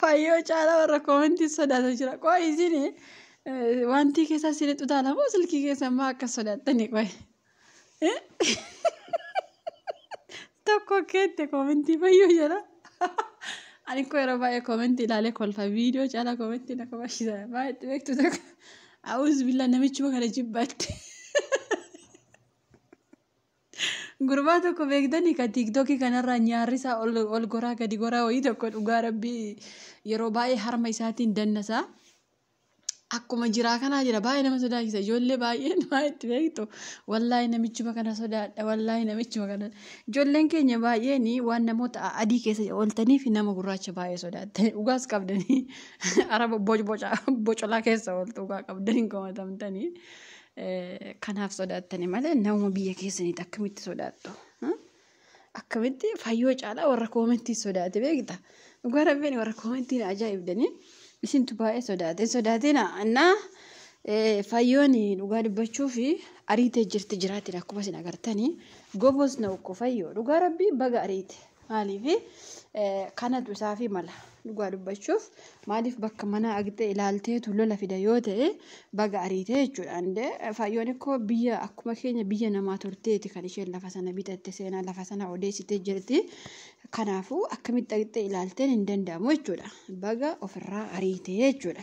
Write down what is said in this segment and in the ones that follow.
Fayyoo caalaa warra koomentii sodaata jira. Qoy isin wantii keessaa isin xutaala moo silkii keessan maa akka sodaattani qoy. Tokko keette koomentii fayyoo jira. Ani koo yeroo baay'ee koomentii ilaalee kolfa viidiyoo caalaa koomentii na kabachiisa. Baay'ee itti beektu tokko. Awuuz billaa namichuma kana jibbaatti. Gurbaa tokko beektanii ka tiiktokii kanarraa nyaarrisaa ol, ol goraa gadi goraa wayii tokko dhugaa rabbii yeroo baay'ee harma isaatiin dannasaa. Akkuma jiraa kanaa jira baay'ee nama sodaachisa ijoollee baay'een waa itti beektu wallaahi namichuma kana sodaadha wallaahi namichuma kana ijoolleen keenya baay'een waan namoota a- adii keessa ooltaniif nama gurraacha baay'ee sodaattani dhugaas qabdanii araba bocbocaa bocolaa keessa ooltu dhugaa qabdanii hin komatamtanii Kanaaf sodaattani malee nama biyya keessaniitti akkamitti sodaattu? Akkamitti fayyoo caalaa warra koomentii sodaate beekta? Dhugaa rabbiin warra koomentiin ajaa'ibdanii isintu baay'ee sodaate sodaatina annaa fayyoon dhugaa dubbachuu fi ariitee jirti jiraatidha akkuma isin agartanii gobos na ukko fayyoo dhugaa rabbii baga ariite Maaliifi kanatu isaafi mala dhugaa dubbachuuf maaliif bakka manaa dhaqxee ilaalteetu lola fida yoo ta'e baga ariitee jechuudha. Andee faayyoon ikkoo biyya akkuma keenya biyya namaa turteeti kan isheen lafa sana bitatte seenaa lafa sana odeessitee jirti. Kanaafuu akkamitti dhaqxee ilaalteen hin danda'amu jechuudha. Baga ofirraa ariitee jechuudha.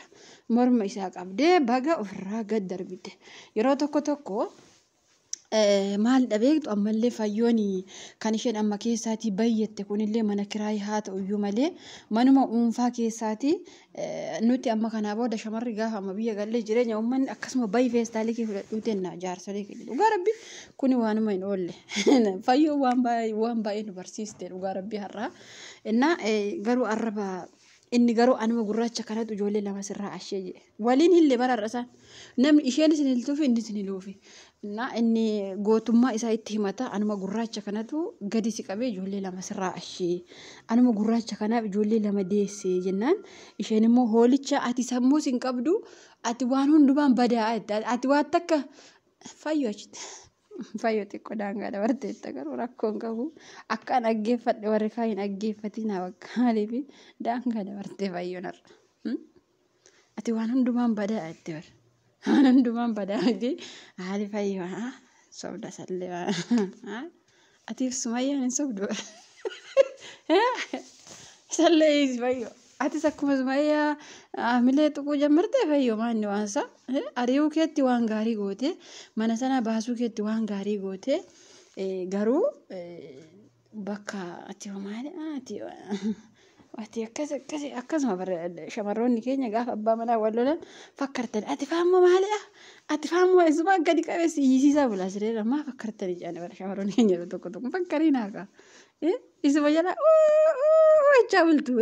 Morma isaa qabdee baga ofirraa gad darbite. Yeroo tokko tokko Maalidha beektu ammallee fayyoon kan isheen amma keessaatii bayyette kunillee mana kiraayii haa ta'u iyyuu malee manuma dhuunfaa keessaatii nuti amma kanaa booda shamarri gaafa amma biyya gallee jireenya uummanni akkasuma bayi feestaalii kee fudhadhuu tenna jaarsolee kee dhugaa rabbi kuni waanuma hin oolle fayyoo waan baay'ee waan baay'ee nu barsiiste dhugaa rabbi har'aa innaa garuu arraba Inni garuu anuma gurraacha kanatu ijoollee lama sirraa ashee jedhe. Waliin hille bara har'a isaan. Namni isheenis hin hiltuufi innis hin hiluufi. Innaa inni gootummaa isaa itti himata anuma gurraacha kanatu gadi si qabee ijoollee lama sirraa ashee. Anuma gurraacha kanaaf ijoollee lama deessee jennaan isheen immoo hoolicha ati sammuus hin qabdu ati waan hundumaan badaa'aa jette. Ati waan takka fayyu achitti. Fayyoo xiqqoo daangaa dabarteetta garuu rakkoon qabu akkaan dhaggeeffadhe warri kaa hin dhaggeeffatiin bakka maaliif daangaa dabartee fayyoon har'a. Hmm? Ati waan hundumaan badaa itti bar. Waan hundumaan badaa miti haali fayyoo haa sobda sallee haa. Atiif sumayyaan hin sobdu. Isallee hiisi fayyoo. Atis akkuma sumayyaa hamilee tuquu jammartee fayyoo maanni waansa. Ari'uu keetti waan gaarii goote mana sana baasuu keetti waan gaarii goote garuu bakka ati homaadha ati Ati akkas akkas akkasuma bara shamarroonni keenya gaafa abbaa manaa wal lolan fakkartan ati faammoo maalidha? Ati faammoo eessumaa gadi qabeessi iyyisiisaa bulaa sireera maa fakkartani jedhani bara shamarroonni keenya yeroo tokko tokko fakkarii naaqa. Isuma jala jechaa bultu.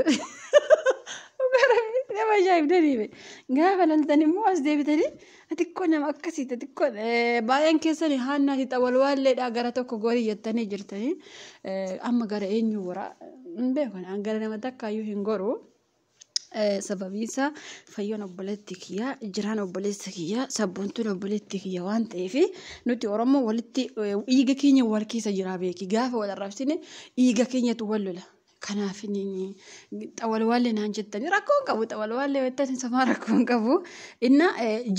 Nama ajaa'ibdaniibe gaafa laltan immoo as deebitanii Xiqqoo nama akkasii xiqqoo baay'een keessan haannaa fi xawalwaalleedhaa gara tokko gorii jettanii jirtanii amma gara eenyu goraa hin beekan an gara nama takkaayyuu hin goruu. Sababiin isaa fayyoon obboleetti kiyyaa jiraan obboleessa kiyyaa sabboontuun obboleetti kiyya waan ta'eef nuti Oromoo walitti dhiiga keenya wal keessa jiraa beeki gaafa wal arrabsine dhiiga keenyatu wal lola. Kanaafiniin xawalwaallee naan jettanii rakkoo hin qabu xawalwaallee wettan somaa rakkoo hin qabu inna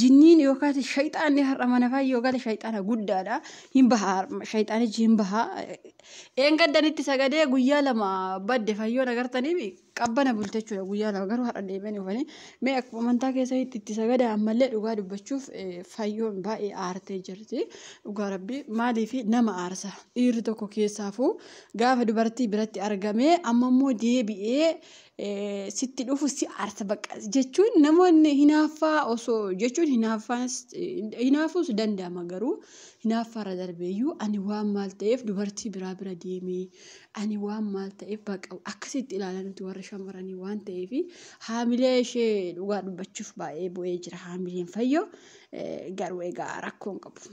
jinniin yookaan shayxaanni har'a mana faa yoo gale shayxaana guddaadha hin baha shayxaanichi hin baha eengaddanitti sagadee guyyaa lama badde fayyoon agartaniif qabbana bulte jechuudha guyyaa lama garuu har'a deebi'anii dhufanii mee akkuma amantaa keessanitti itti sagada ammallee dhugaa dubbachuuf fayyoon baay'ee aartee jirti dhugaa rabbii maaliif nama aarsa dhiirri tokko keessaafuu Gaafa dubartii biratti argame amma immoo deebi'ee sitti dhufu si aarsa bakka jechuun namoonni hinaaffaa osoo jechuun hinaaffaas hinaafuus danda'ama garuu hinaaffaarra darbeeyyuu ani waan maal ta'eef dubartii biraa bira deemee ani waan maal ta'eef baqa akkasitti ilaala nuti warri shamarranii waan ta'eef haamilee ishee dhugaa dubbachuuf baay'ee bu'ee jira haamileen fayyoo garuu egaa rakkoon qabu.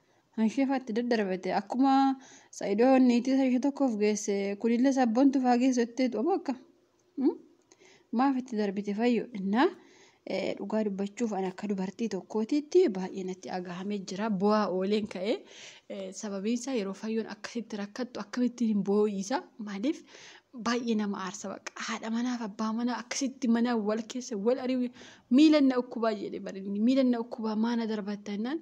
Hansheefaa itti daddarbate akkuma Sa'idoo niitii isa ishee tokkoof geesse kunillee sabbontuuf haa geessu jetteetu ammoo akka maaf itti darbite fayyo innaa dhugaa dubbachuuf ani akka dubartii tokkootiitti baay'ee natti agahamee jira bu'aa ooleen ka'ee sababiin isaa yeroo fayyoon akkasitti rakkattu akkamittiin hin boo'iisa maaliif baay'ee nama aarsa baqa haadha manaaf abbaa manaa akkasitti mana wal keessa wal ari'u miilan na ukkubaa jedhe barinni miilan na ukkubaa maana darbatta innaan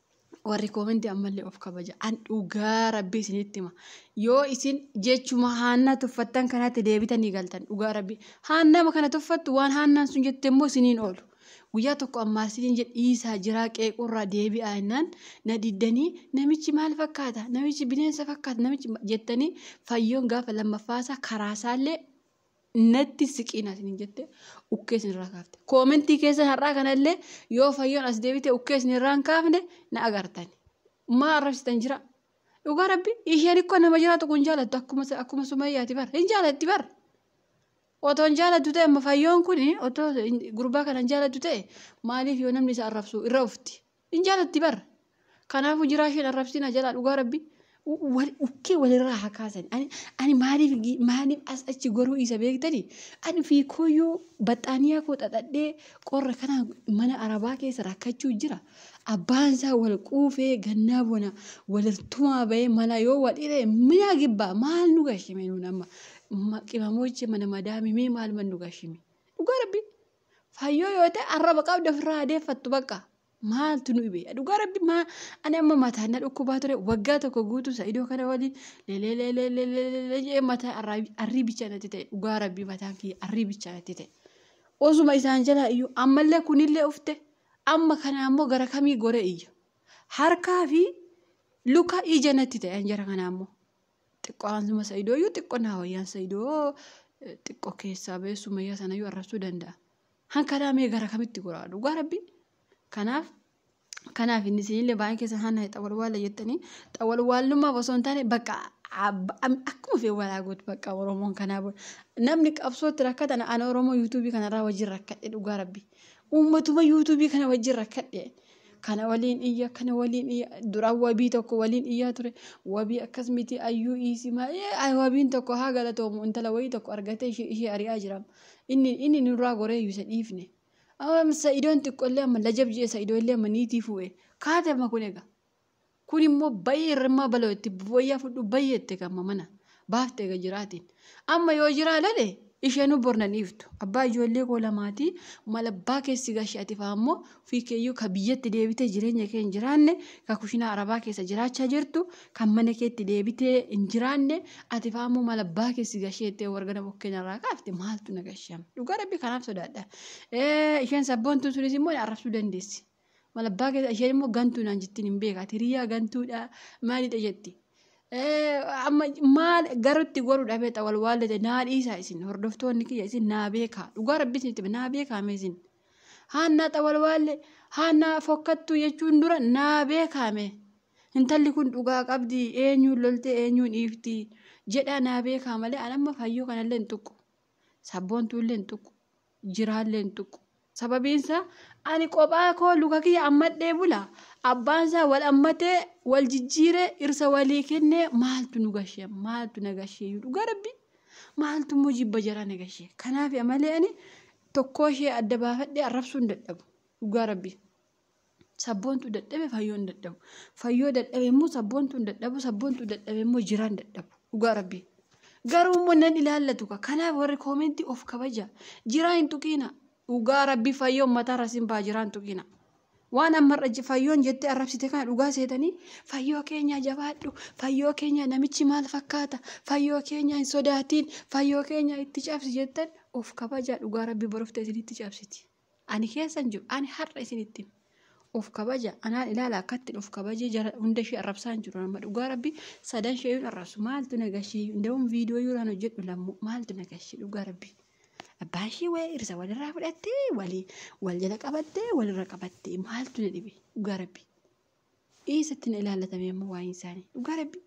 warri koomenti ammallee of kabaja an dhugaa rabbii isinitti hima yoo isin jechuma haannaa tuffattan kanatti deebitanii galtan dhugaa rabbii haannama kana tuffattu waan haannaan sun jette immoo isiniin oolu guyyaa tokko ammaarsitiin jedhe dhiisaa jiraa qeequrraa deebi'aa innaan na diddanii namichi maal fakkaata namichi bineensa fakkaata namichi jettanii fayyoon gaafa lammaffaasaa karaasaallee natti siqiin asiniin jette ukkee isinirraa kaafte. Koomentii keessan har'aa kanallee yoo fayyoon as deebite ukkee isinirraan kaafne na agartan. Maa arrabsitan jira? Dhugaa rabbi isheen ikkoo nama jiraatu kun jaalattu akkuma akkuma sumayyaati bar hin jaalatti bar. Otoo hin jaalattu ta'e amma fayyoon kun otoo gurbaa kana hin jaalattu ta'e maaliif yoo namni isa arrabsu irra ufti. Hin jaalatti bar. Kanaafu jiraa isheen arrabsina jalaa dhugaa rabbi. Wal ukkee walirraa haa kaasan. Ani ani maaliif gi- maaliif as achi goruu isa beektani? Ani fi kooyyuu baxxaaniyaa koo xaxadhee qorra kana mana arabaa keessa rakkachuu jira. Abbaan isaa wal quufee gannaa bona walirtumaa bahee mana yoo wal hire mina gibbaa maal nu gashime nuun amma Ma- qimamoche mana madaamimee maal man nu gashime? Dhugaa rabbi. Fayyoo yoo ta'e arraba qabda ofirraa adeeffattu bakka. Maaltu nu dhibe? Dhugaa rabbi maa ani amma mataan na dhukkubaa ture waggaa tokko guutuu sa'idoo kana waliin leleeleleeleleelee jedhee mataa arraabi- arrii bichaa natti ta'e dhugaa rabbi mataan kiyya arrii bichaa natti ta'e. Osuma isaan jalaa iyyuu ammallee kunillee ufte amma kana ammoo gara kamii goree iyya. Harkaa fi luka ija natti ta'e anjara kana ammoo. Xiqqoo aansuma sa'idoo iyyuu xiqqoo naa wayyaan sa'idoo xiqqoo keessaa ba'ee sumayyaa sana iyyuu arrabsuu danda'a. Hankanaa mee gara kamitti goraa dhugaa rabbi. Kanaaf kanaaf inni isinillee baay'een keessan hanna xawalwaala jettanii xawalwaalummaaf osoo hin taane bakka akkuma fee walaa gootu bakka Oromoon kanaa booda namni qabsootti rakkatan ana Oromoo yuutuubii kanarraa wajjin rakkadhe dhugaa rabbi. Uummatuma yuutuubii kana wajjin rakkadhe kana waliin iyya kana waliin iyya dura wabii tokko waliin iyyaa ture wabii akkas miti ayyuu iisii maa ee wabiin tokko haa galatoomu intala wayii tokko argatee ishee ishee ari'aa jiraam inni inni nurraa goree iyyuu isa dhiifne amma sa'idoon xiqqollee amma lajab jee sa'idoo illee amma niitii fu'e kaate amma kun egaa Kun immoo bayyee irrimmaa baloo itti wayyaa fudhu bayyee itti kamma mana baafte ega jiraatiin. Amma yoo jiraa lale isheenuu bor nan dhiiftu. Abbaa ijoollee koo lamaatii mal abbaa keessi gashi ati faa immoo ofii keeyyuu ka biyyatti deebitee jireenya kee hin jiraanne ka kushinaa arabaa keessa jiraachaa jirtu kan mana keetti deebitee hin jiraanne ati faa immoo mal abbaa keessi gashee itti wargana bokkeen irraa kaafte maaltu na gashama. Dhugaa rabbi kanaaf sodaadha. Isheen sabboontuun sunis immoo na arrabsuu dandeessi. Mal abbaa keessa isheen immoo gantuu naan jettiin hin beekaa hiriyaa gantuudha maalidha jetti. Amma maal garutti godhu dhabee ta'a wal waallate naa dhiisaa isin hordoftoonni kiyya isin naa beekaa dhugaa rabbi isin itti naa beekaa mee isin. Haannaa ta'a wal waalle haannaa fokkattuu jechuun dura naa beekaa mee. Intalli kun dhugaa qabdi eenyuun loltee eenyuun dhiifti jedhaa naa beekaa malee an amma fayyoo kanallee hin tuqu. Sabboontuullee hin tuqu. jiraallee hin tuqu. Sababiin isaa ani qophaa koo luka kiyya ammadhee bula. Abbaan isaa wal ammatee wal jijjiiree irsa walii kennee maaltu nu gashee maaltu na gashee dhugaa rabbi maaltu immoo jibba jaraa na gashee. Kanaaf amalee ani tokkoo ishee adda baafadhee arrabsuu hin dadhabu dhugaa rabbi. Sabboontu dadhabe fayyoon dadhabu. Fayyoo dadhabe immoo sabboontuun dadhabu sabboontuu dadhabe immoo jiraan dadhabu. Dhugaa rabbii. Garuu immoo nan ilaallatu ka. Kanaaf warri koomentii of kabaja. Jiraa hin tuqiina. Dhugaa rabbii fayyoo mataa rasin baa jiraa hin tuqiina. Waan ammarra je- fayyoon jettee arrabsite kana dhugaa seetanii fayyoo keenya jabaadhu fayyoo keenya namichi maal fakkaata fayyoo keenya hin sodaatiin fayyoo keenya itti cabsi jettan of kabajaa dhugaa rabbii borofta isinitti cabsiti. ani keessan jiru ani har'a isinitti of kabaja anaan ilaala akkattiin of kabajee jara hunda ishee arrabsaan jiru amma dhugaa rabbi sadan ishee yoon arrabsu maaltu na gashii hundawwan viidiyoo yoon hojjedhu lammuu maaltu na gashii dhugaa rabbi abbaan ishee wayii irsa walirraa fudhattee walii wal jala qabattee walirra qabattee maaltu na dhibe dhugaa rabbi eessatti na ilaallatamee amma waa'een isaanii dhugaa rabbi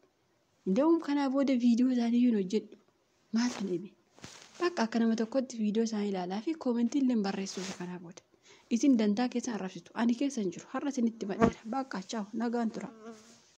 Dawum kanaa booda viidiyoo isaanii hin hojjedhu. Maal kan dhibe? Bakka akka nama tokkotti viidiyoo isaanii ilaalaa fi koomentii illee barreessuuf kanaa booda. Isin dantaa keessan arrabsitu. Ani keessa hin jiru. Har'a isinitti badheera. Bakka chaaw nagaan tura.